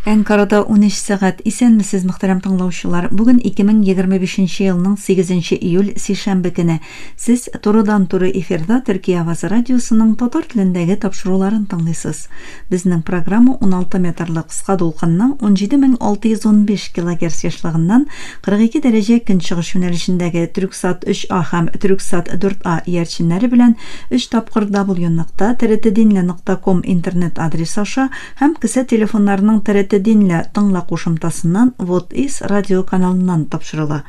Әнкарада унөч сәгать. Исәнмесез, мөхтәрәм тыңлаучылар! Бүген 2025 нче елның 8 нче июль, сишәмбе көне. Сез турыдан-туры эфирда Төркия авазы радиосының татар телендәге тапшыруларын тыңлыйсыз. Безнең программа 16 метрлы кыска дулкынның 17615 килогерц ешлыгыннан 42 дәрәҗә көнчыгыш юнәлешендәге Трюксат 3А һәм Трюксат 4А иярченнәре белән өч тапкыр даблюнокта тртдинле нокта ком интернет адресы аша Һәм кесә телефоннарының Тәрәте динлә тыңла кушымтасыннан Вотис радиоканалыннан тапшырыла.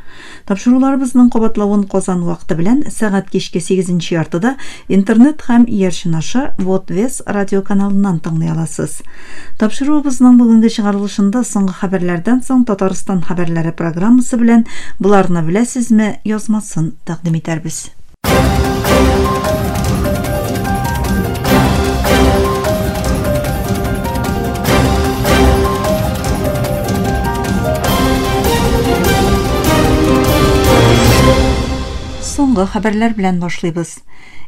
Тапшыруларыбызның кабатлавын Казан вакыты белән сәгать кичке сигезенче яртыда Интернет һәм Иярчен аша Вотвес радиоканалыннан тыңлый аласыз. Тапшыруыбызның бүгенге чыгарылышында Соңгы хәбәрләрдән соң Татарстан хәбәрләре программасы белән Боларны беләсезме? язмасын тәкъдим итәрбез. Соңгы хәбәрләр белән башлыйбыз.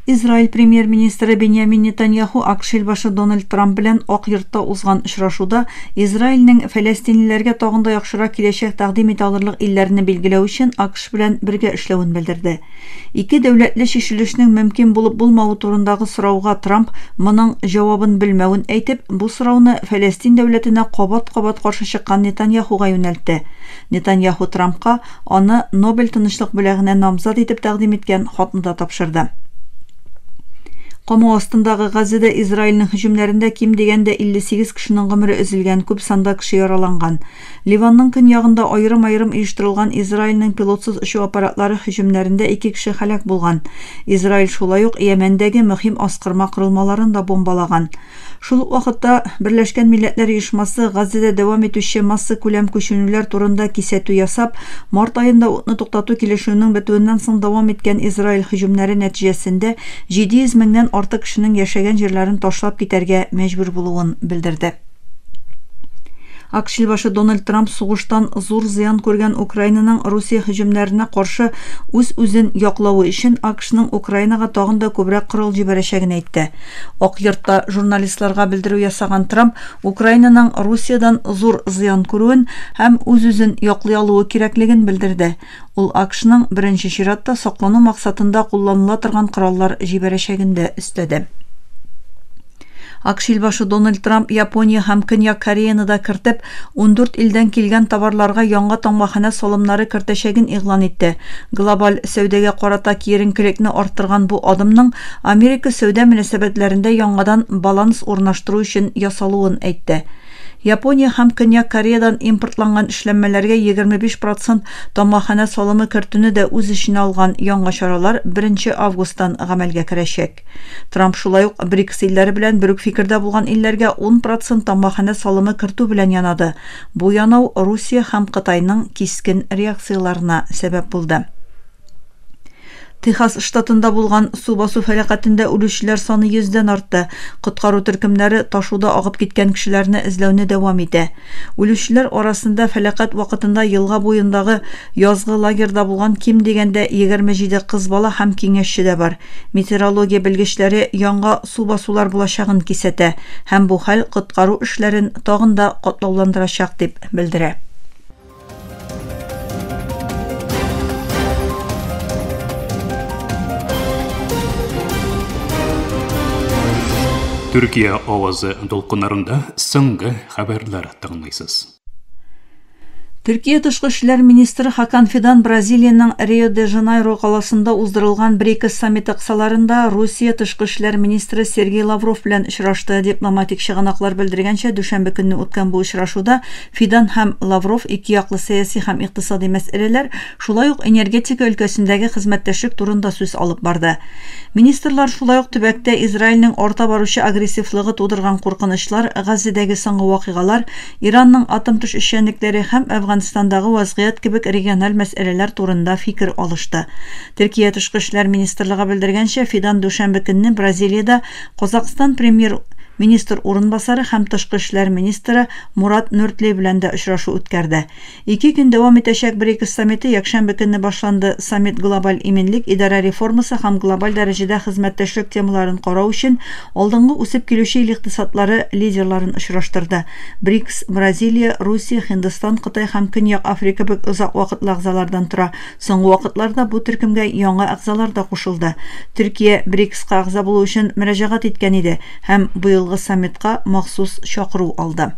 Израиль премьер-министры Беньямин Нетаньяху АКШ елбашы Дональд Трамп белән Ак йортта узган очрашуда Израильнең фәләстинлеләргә тагын да яхшырак киләчәк тәкъдим итә алырлык илләрне билгеләү өчен АКШ белән бергә эшләвен белдерде. Ике дәүләтле чишелешнең мөмкин булып булмавы турындагы сорауга Трамп моның җавабын белмәвен әйтеп, бу сорауны Фәләстин дәүләтенә кабат-кабат каршы чыккан Нетаньяхуга юнәлтте. Нетаньяху Трампка аны Нобель тынычлык бүләгенә намзат итеп тәкъдим иткән хатны да тапшырды. Камау астындагы Газзәдә Израильнең һөҗүмнәрендә ким дигәндә 58 кешенең гомере өзелгән, күп санда кеше яраланган. Ливанның көньягында аерым-аерым оештырылган Израильнең пилотсыз очу аппаратлары һөҗүмнәрендә ике кеше һәлак булган. Израиль шулай ук Йәмәндәге мөһим аскырма корылмаларын да бомбалаган. Шул ук вакытта Берләшкән Милләтләр Оешмасы Газзәдә дәвам итүче массакүләм күченүләр турында кисәтү ясап, март аенда утны туктату килешүенең бетүеннән соң дәвам иткән Израиль һөҗүмнәре нәтиҗәсендә 700 меңнән артык кешенең яшәгән җирләрен ташлап китәргә мәҗбүр булуын белдерде. ак шилбашы Дональд Трамп сугыштан зур зыян күргән Украинаның Русия һөҗүмнәренә каршы үз-үзен яклавы өчен АКШның Украинага тагын да күбрәк корал җибәрәчәген әйтте. Ак йортта журналистларга белдерү ясаган Трамп Украинаның Русиядән зур зыян күрүен һәм үз-үзен яклый алуы кирәклеген белдерде. Ул АКШның, беренче чиратта, саклану максатында кулланыла торган кораллар җибәрәчәген дә өстәде. АКШ илбашы Дональд Трамп Япония һәм Көньяк Кореяны да кертеп, ундүрт илдән килгән товарларга яңа таңбаханә салымнары кертәчәген игълан итте. Глобаль сәүдәгә карата киеренкелекне арттырган бу адымның Америка сәүдә мөнәсәбәтләрендә яңадан баланс урнаштыру өчен ясалуын әйтте. Япония һәм Көньяк Кореядан импортланган эшләнмәләргә 25 процент тамгаханә салымы кертүне дә үз эченә алган яңа чаралар беренче августтан гамәлгә керәчәк. Трамп шулай ук БРИКС илләре белән бер үк фикердә булган илләргә ун процент тамгаханә салымы кертү белән янады, бу янау Русия һәм Кытайның кискен реакцияләренә сәбәп булды. Техас штатында булган су басу фәлакәтендә үлүчеләр саны йөздән артты. Коткару төркемнәре ташуда агып киткән кешеләрне эзләүне дәвам итә. Үлүчеләр арасында фәлакәт вакытында елга буендагы язгы лагерьда булган ким дигәндә 27 кыз бала һәм киңәшче дә бар. Метеорология белгечләре янга су басулар булачагын кисәтә һәм бу хәл коткару эшләрен тагын да катлауландырачак дип белдерә. Төркия авазы дулкыннарында соңгы хәбәрләр тыңлыйсыз. Төркия тышкы эшләр министры Хакан Фидан Бразилиянең Рио-де-Жанейро каласында уздырылган БРИКС саммиты кысаларында Русия тышкы эшләр министры Сергей Лавров белән очрашты. Дипломатик чыганаклар белдергәнчә, дүшәмбе көнне үткән бу очрашуда Фидан һәм Лавров икеяклы сәяси һәм икътисади мәсьәләләр, шулай ук энергетика өлкәсендәге хезмәттәшлек турында сүз алып барды. Министрлар шулай ук төбәктә Израильнең арта баручы агрессивлыгы тудырган куркынычлар, Газзедәге соңгы вакыйгалар, Иранның атом төшешчәнлекләре һәм Әфганстандагы вазгыять кебек региональ мәсьәләләр турында фикер алышты. Төркия тышкы эшләр министрлыгы белдергәнчә, Фидан дүшәмбе көнне Бразилиядә Казакъстан премьер министр урынбасары һәм тышкы эшләр министры Мурат Нөртле белән дә очрашу үткәрде. Ике көн дәвам итәчәк БРИКС саммиты якшәмбе көнне башланды. Саммит глобаль иминлек, идарә реформасы һәм глобаль дәрәҗәдә хезмәттәшлек темаларын карау өчен алдынгы үсеп килүче ил икътисадлары лидерларын очраштырды. БРИКС, Бразилия, Русия, Һиндстан, Кытай һәм Көньяк Африка кебек озак вакытлы әгъзалардан тора. Соңгы вакытларда бу төркемгә яңа әгъзалар да кушылды. Төркия БРИКСка әгъза булу өчен мөрәҗәгать иткән иде һәм быелгы саммитка махсус чакыру алды.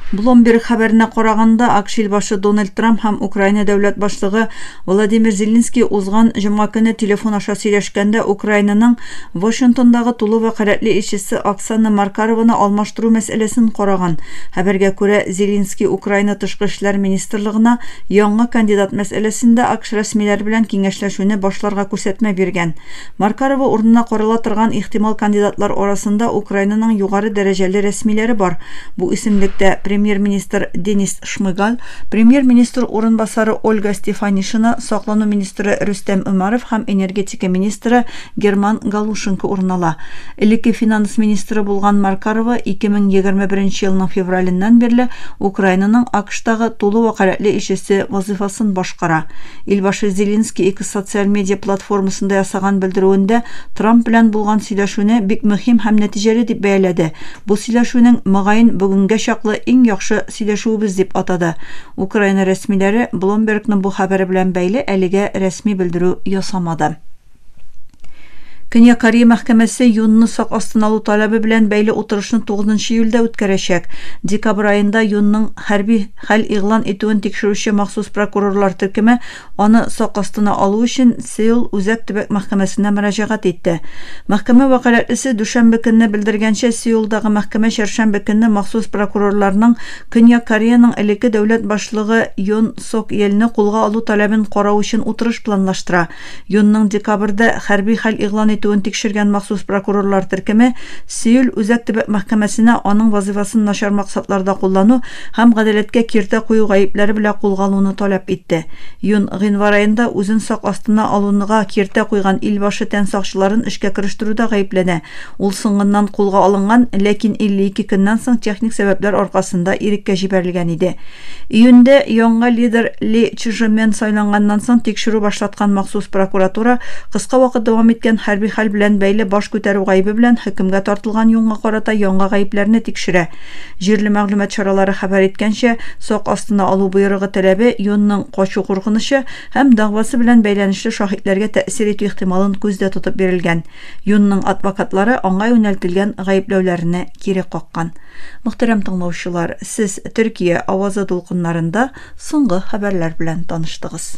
Bloomberg хәбәренә караганда, АКШ ил башы Дональд Трамп һәм Украина дәүләт башлыгы Владимир Зеленский узган җомга көне телефон аша сөйләшкәндә Украинаның Вашингтондагы тулы вәкаләтле илчесе Оксана Маркарованы алмаштыру мәсьәләсен караган. Хәбәргә күрә, Зеленский Украина тышкы эшләр министрлыгына яңа кандидат мәсьәләсендә АКШ рәсмиләре белән киңәшләшүне башларга күрсәтмә биргән. Маркарова урынына карала торган ихтимал кандидатлар арасында Украинаның югары дәрәҗәле рәсмиләре бар. Бу исемлектә премьер-министр Денис Шмыгаль, премьер-министр урынбасары Ольга Стефанишина, саклану министры Рөстәм Өмәров һәм энергетика энергетика министры Герман Галушенко урын ала. Элекке финанс министры булган Маркарова 2021 елның февраленнән бирле Украинаның АКШтагы тулы вәкаләтле илчесе вазыйфасын башкара. Илбашы Зеленский X социаль медиа платформасында ясаган белдерүендә Трамп белән булган сөйләшүне бик мөһим һәм нәтиҗәле дип бәяләде, Бу сөйләшүнең, мөгаен, бүгенгә чаклы иң яхшы сөйләшүебез дип атады Украина рәсмиләре, Bloomberg-ның бу хәбәре белән бәйле әлегә рәсми белдерү ясамады. Көньяк Корея мәхкәмәсе Юнны сак астына алу таләбе белән бәйле утырышны тугызынчы июльдә үткәрәчәк. Декабрь аенда Юнның хәрби хәл игълан итүен тикшерүче махсус прокурорлар төркеме Аны сак астына алу өчен Сеул Үзәк төбәк мәхкәмәсенә мөрәҗәгать итте. Мәхкәмә вәкаләтлесе дүшәмбе көнне белдергәнчә, Сеулдагы мәхкәмә чәршәмбе көнне махсус прокурорларның Көньяк Кореяның элекке дәүләт башлыгы Йон Сок Йельне кулга алу таләбен карау өчен утырыш планлаштыра. Йонның декабрьдә хәрби хәл игълан итүен тикшергән махсус прокурорлар төркеме Сеул Үзәк төбәк мәхкәмәсенә аның вазыйфасын начар максатларда куллану һәм гадәләткә киртә кую гаепләре белә кулга алуны таләп итте. Юн, гыйнвар аенда үзен сак астына алунга киртә куйган илбашы тән сакчыларын эшкә керештерүдә гаепләнә. Ул соңыннан кулга алынган, ләкин 52 көннән соң техник сәбәпләр аркасында иреккә җибәрелгән иде. Июньдә яңа лидер Ли Чжемен сайланганнан соң тикшерү башлаткан махсус прокуратура кыска вакыт дәвам иткән хәрби хәл белән бәйле баш күтәрү гаебе белән хөкемгә тартылган Юнга карата яңа гаепләрне тикшерә. Җирле мәгълүмат чаралары хәбәр иткәнчә, сак астына алу боерыгы таләбе Йонның качу куркынычы һәм дәгъвасы белән бәйләнешле шаһитләргә тәэсир итү ихтималын күздә тотып бирелгән. Йонның адвокатлары аңа юнәлтелгән гаепләүләрне кире каккан. Мөхтәрәм тыңлаучылар, сез Төркия авазы дулкыннарында соңгы хәбәрләр белән таныштыгыз.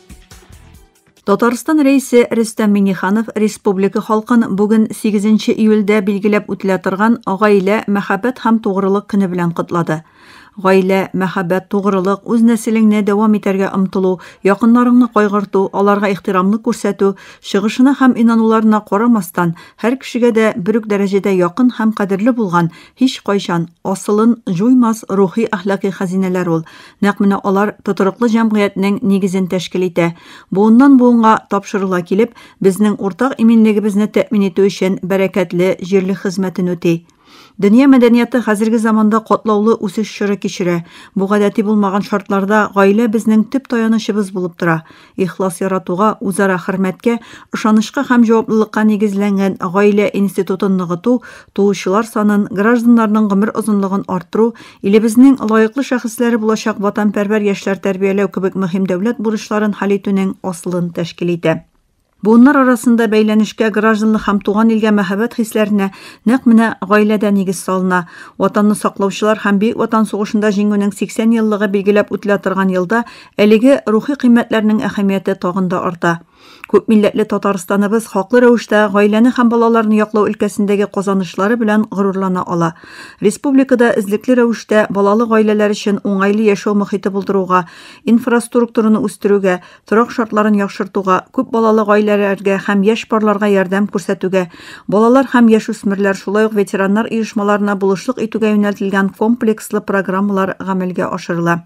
Татарстан рәисе Рөстәм Миниханов республика халкын бүген 8 июльдә билгеләп үтелә торган Гаилә, мәхәббәт һәм тугрылык көне белән котлады. Гаилә, мәхәббәт, тугрылык, үз нәселеңне дәвам итәргә омтылу, якыннарыңны кайгырту, аларга ихтирамны күрсәтү, чыгышына һәм инануларына карамастан, һәр кешегә дә бер үк дәрәҗәдә якын һәм кадерле булган, һичкайчан асылын җуймас рухи-әхлакый хәзинәләр ул. Нәкъ менә алар тотрыклы җәмгыятьнең нигезен тәшкил итә. Буыннан-буынга тапшырыла килеп, безнең уртак иминлегебезне тәэмин итү өчен бәрәкәтле җирлек хезмәтен үти. Дөнья мәдәнияты хәзерге заманда катлаулы үсеш чоры кичерә. Бу гадәти булмаган шартларда гаилә безнең төп таянычыбыз булып тора. Ихлас яратуга, үзара хөрмәткә, ышанычка һәм җаваплылыкка нигезләнгән гаилә институтын ныгыту, туучылар санын, гражданнарның гомер озынлыгын арттыру, илебезнең лаеклы шәхесләре булачак ватанпәрвәр яшьләр тәрбияләү кебек мөһим дәүләт бурычларын хәл итүнең асылын тәшкил итә. Буыннар арасында бәйләнешкә, гражданлык һәм туган илгә мәһабәт хисләренә нәкъ менә гаиләдә нигез салына. Ватанны саклаучылар һәм Бөек Ватан сугышында Җиңүнең 80 еллыгы билгеләп үтелә торган елда Әлеге рухи кыйммәтләрнең әһәмияте тагын да арта. Күпмилләтле Татарстаныбыз хаклы рәвештә гаиләне һәм балаларны яклау өлкәсендәге казанышлары белән горурлана ала. Республикада эзлекле рәвештә балалы гаиләләр өчен уңайлы яшәү мохите булдыруга, инфраструктураны үстерүгә, торак шартларын яхшыртуга, күп балалы гаиләләргә һәм яшь парларга ярдәм күрсәтүгә, балалар һәм яшүсмерләр, шулай ук ветераннар оешмаларына булышлык итүгә юнәлтелгән комплекслы программалар гамәлгә ашырыла.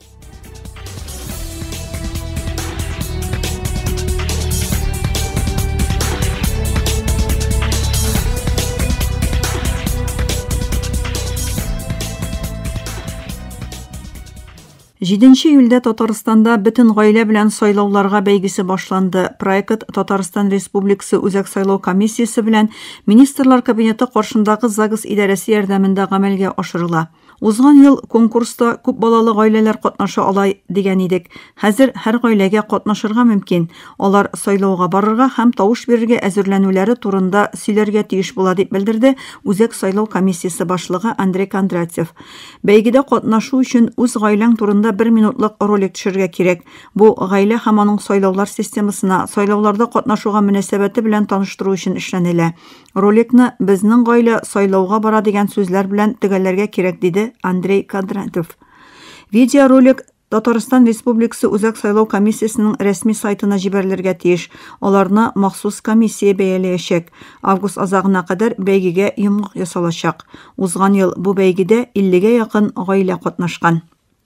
Җиденче июльдә Татарстанда бөтен гаилә белән сайлауларга бәйгесе башланды. Проект Татарстан Республикасы Үзәк сайлау комиссиясе белән Министрлар кабинеты каршындагы ЗАГС идарәсе ярдәмендә гамәлгә ашырыла. Узган ел конкурста күп балалы гаиләләр катнаша алай дигән идек. Хәзер һәр гаиләгә катнашырга мөмкин. Алар сайлауга барырга һәм тавыш бирергә әзерләнүләре турында сөйләргә тиеш була, дип белдерде Үзәк сайлау комиссиясе башлыгы Андрей Кондратьев. Бәйгедә катнашу өчен үз гаиләң турында бер минутлык ролик төшергә кирәк. Бу, гаилә һәм аның сайлаулар системасына, сайлауларда катнашуга мөнәсәбәте белән таныштыру өчен эшләнелә. Роликны безнең гаилә сайлауга бара дигән сүзләр белән төгәлләргә кирәк, диде Андрей Кондратов. Видеоролик Татарстан Республикасы Үзәк сайлау комиссиясенең рәсми сайтына җибәрелергә тиеш. Аларны махсус комиссия бәяләячәк. Август азагына кадәр бәйгегә йомгак ясалачак. Узган ел бу бәйгедә 50 гә якын гаилә катнашкан.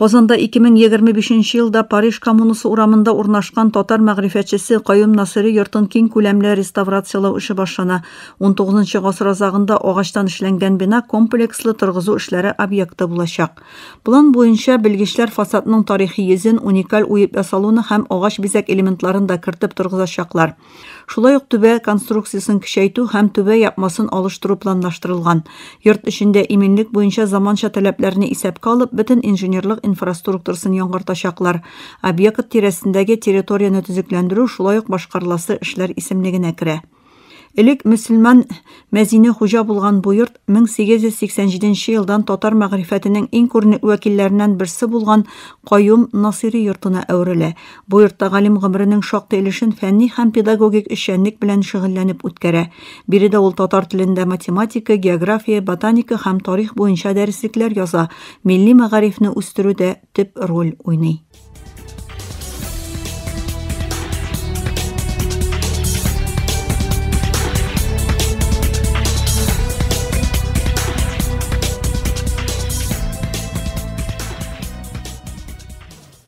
Казанда 2025 елда Париж коммунасы урамында урнашкан татар мәгърифәтчесе Каюм Насыйри йортын киң күләмле реставрацияләү эше башлана. 19 гасыр азагында агачтан эшләнгән бина комплекслы торгызу эшләре объекты булачак. План буенча, белгечләр фасадның тарихи йөзен, уникаль уеп ясалуны һәм агач бизәк элементларын да кертеп торгызачаклар. Шулай ук түбә конструкциясен көчәйтү һәм түбә япмасын алыштыру планлаштырылган. Йорт эчендә иминлек буенча заманча таләпләрне исәпкә алып, бөтен инженерлык инфраструктурасын яңгыртачаклар. Объект тирәсендәге территорияне төзекләндерү шулай ук башкарыласы эшләр исемлегенә керә. Элек мөселман Мәзине хуҗа булган бу йорт 1887 елдан татар мәгърифәтенең иң күренекле вәкилләреннән берсе булган Каюм Насыйри йортына әверелә. Бу йортта галим гомеренең шактый өлешен фәнни һәм педагогик эшчәнлек белән шөгыльләнеп үткәрә. Биредә ул татар телендә математика, география, ботаника һәм тарих буенча дәреслекләр яза, милли мәгарифне үстерүдә төп роль уйный.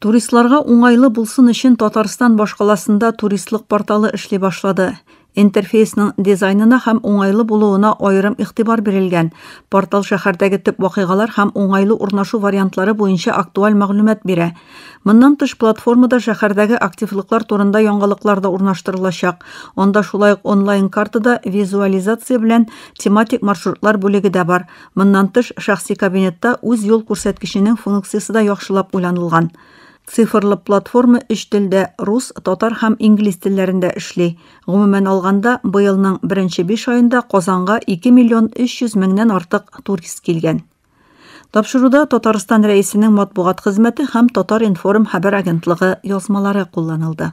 Туристларга уңайлы булсын өчен Татарстан башкаласында туристлык порталы эшли башлады. Интерфейсның дизайнына һәм уңайлы булуына аерым игътибар бирелгән. Портал шәһәрдәге төп вакыйгалар һәм уңайлы урнашу вариантлары буенча актуаль мәгълүмат бирә. Моннан тыш, платформада шәһәрдәге активлыклар турында яңалыклар да урнаштырылачак. Анда шулай ук онлайн-картада визуализация белән тематик маршрутлар бүлеге дә бар. Моннан тыш, шәхси кабинетта үз юл күрсәткеченең функциясе дә яхшылап уйланылган. Цифрлы платформа өч телдә, рус, татар һәм инглиз телләрендә эшли. Гомумән алганда, быелның беренче биш аенда Казанга 2 миллион 300 меңнән артык турист килгән. Тапшыруда Татарстан Рәисенең матбугат хезмәте һәм Татар-информ хәбәр агентлыгы язмалары кулланылды.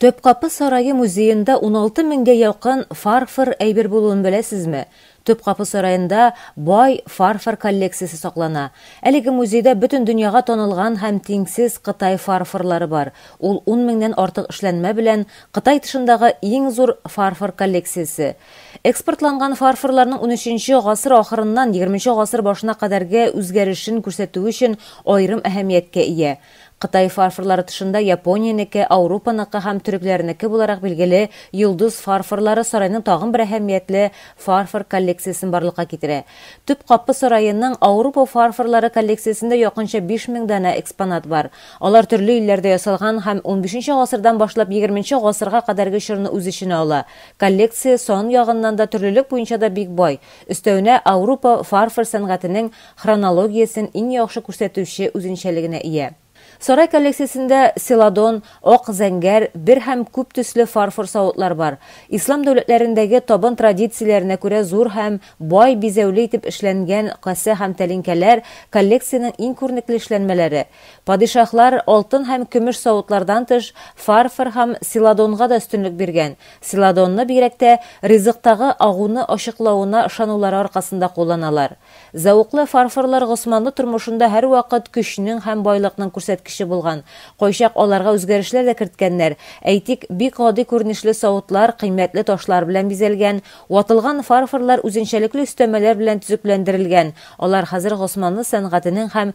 Төпкапы сарае музеенда 16 меңгә якын фарфор әйбер булуын беләсезме? Төпкапы сараенда бай фарфор коллекциясе саклана. Әлеге музейда бөтен дөньяга танылган һәм тиңсез Кытай фарфорлары бар. Ул 10 меңнән артык эшләнмә белән Кытай тышындагы иң зур фарфор коллекциясе. Экспортланган фарфорларның унөченче гасыр ахырыннан егерменче гасыр башына кадәрге үзгәрешен күрсәтүе өчен аерым әһәмияткә ия. Кытай фарфорлары тышында Япониянеке, Аурупаныкы һәм төрекләрнеке буларак билгеле Йолдыз фарфорлары сарайның тагын бер әһәмиятле фарфор коллекциясен барлыкка китерә. Төп капы сараеның Аурупа фарфорлары коллекциясендә якынча биш мең данә экспонат бар. Алар төрле илләрдә ясалган һәм унбишенче гасырдан башлап егерменче гасырга кадәрге чорны үз эченә ала. Коллекция сан ягыннан да, төрлелек буенча да бик бай. Өстәвенә, Аурупа фарфор сәнгатенең хронологиясен иң яхшы күрсәтүче үзенчәлегенә ия. Сарай коллекциясендә селадон, ак зәңгәр, бер һәм күп төсле фарфор савытлар бар. Ислам дәүләтләрендәге табын традицияләренә күрә зур һәм бай бизәүле итеп эшләнгән касә һәм тәлинкәләр коллекциянең иң күренекле эшләнмәләре. Падишаһлар алтын һәм көмеш савытлардан тыш, фарфор һәм селадонга да өстенлек биргән, селадонны бигрәк тә ризыктагы агуны ачыклавына ышанулары аркасында кулланалар. Зәвыклы фарфорлар госманлы тормышында һәрвакыт көчнең һәм байлыкның күрсәткече булган, кайчак аларга үзгәрешләр дә керткәннәр, әйтик, бик гади күренешле савытлар кыйммәтле ташлар белән бизәлгән, ватылган фарфорлар үзенчәлекле өстәмәләр белән төзекләндерелгән, алар хәзер госманлы сәнгатенең һәм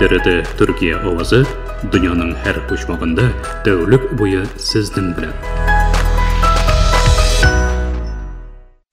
Дөрете Төркия авазы дөньяның һәр почмагында тәүлек буе сезнең белән.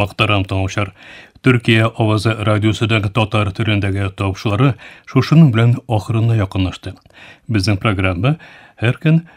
Мактарам тыңлаучылар. Төркия авазы радиосыдагы татар төрендәге тавышлары шушының белән ахырына якынлашты. Безнең программа һәр көн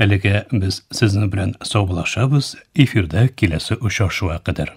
Әлегә без сезнең белән саубулашабыз, эфирда киләсе очрашуга кадәр.